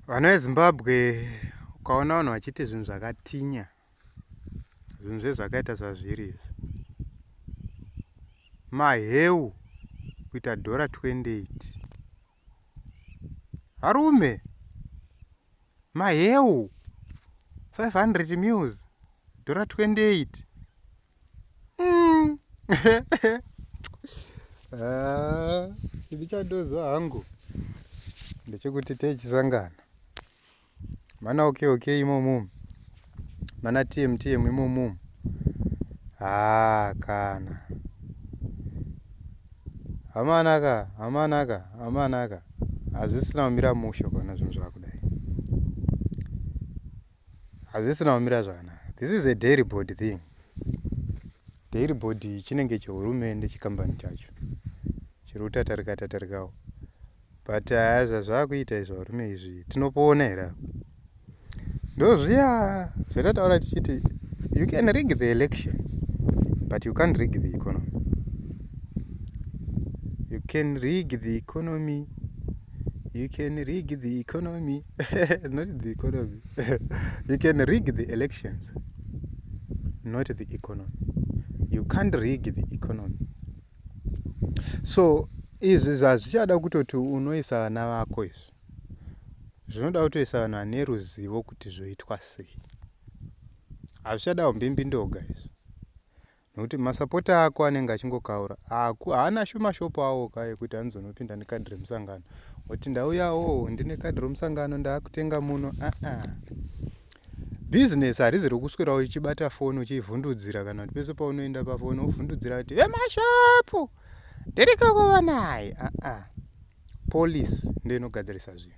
Vana veZimbabwe ukaona vanhu vachiti zvinhu zvakatinya zvinhu zvezvakaita zvazviri izvi maheu kuita dhora 28 varume maheu 500 mils dhora 28 mm. ah, chivi chandozwa hangu ndechekuti techisangana mana okay okay imomo mana tm tm imomo haa ah, kana hamanaka hamanaka hamanaka hazvisina kumira mushe kana zvinhu zvakudai hazvisina kumira zvakanaka this is a dairy board thing dairy board chinenge chehurumende chikambani chacho chiri kutatarika tatarikawo but haya zvazvakuita izvo varume izvi tinopoona here apo ndozviya zvatataura tichiti you can rig the election but you can't rig the economy you can rig the economy you can rig the economy not the economy you can rig the elections not the economy you can't rig the economy so izvi zvazvichada kutoti unoisa vana vako izvi zvinoda kutoisa vanhu vane ruzivo kuti zvoitwa sei hazvichadawo mbimbi ndoga izvi Nokuti masapota ako anenge achingokaura. Aku haana shuma shop awo ka yekuti anozonopinda nekadhi remusangano. Woti ndauyawo ndine kadhi remusangano ndakutenga muno. Ah ah. Business harizi rokuswera uchibata phone uchivhundudzira kana kuti pese paunoenda paphone uvhundudzira kuti vemashopu ndiriko kuva naye. Ah ah. police ndiyo inogadzirisa zvinhu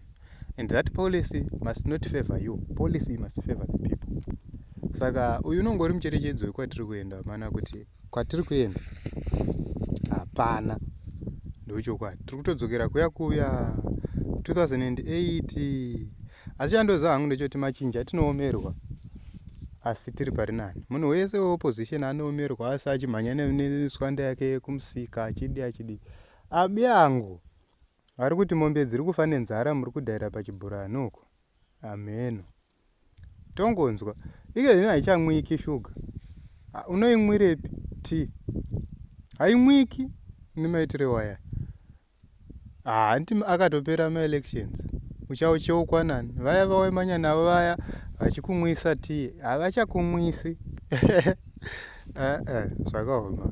and that policy must not favor you policy must favor the people saka uyu unonge uri mucherechedzo wekwatiri kuenda mana kuti kwatiri kuenda hapana ndochokwadi tiri kutodzokera kuya kuya 2008 asi chandoziva hangu ndechoti machinja tinoomerwa asi tiri pari nani munhu wese weopposition anoomerwa asi achimhanya neswanda yake kumusika achidi achidi Abi angu ari kuti mombe dziri kufa nenzara muri kudaira pachibhurani uko hamheno tongonzwa ike zvino haichamwiki shuga ah, unoimwirepi ti haimwiki nemaitire waya hanti ah, akatopera maelections uchaucheukwa nani vaya vawemanya navo vaya vachikumwisa ti havachakumwisi ah, zvakaoma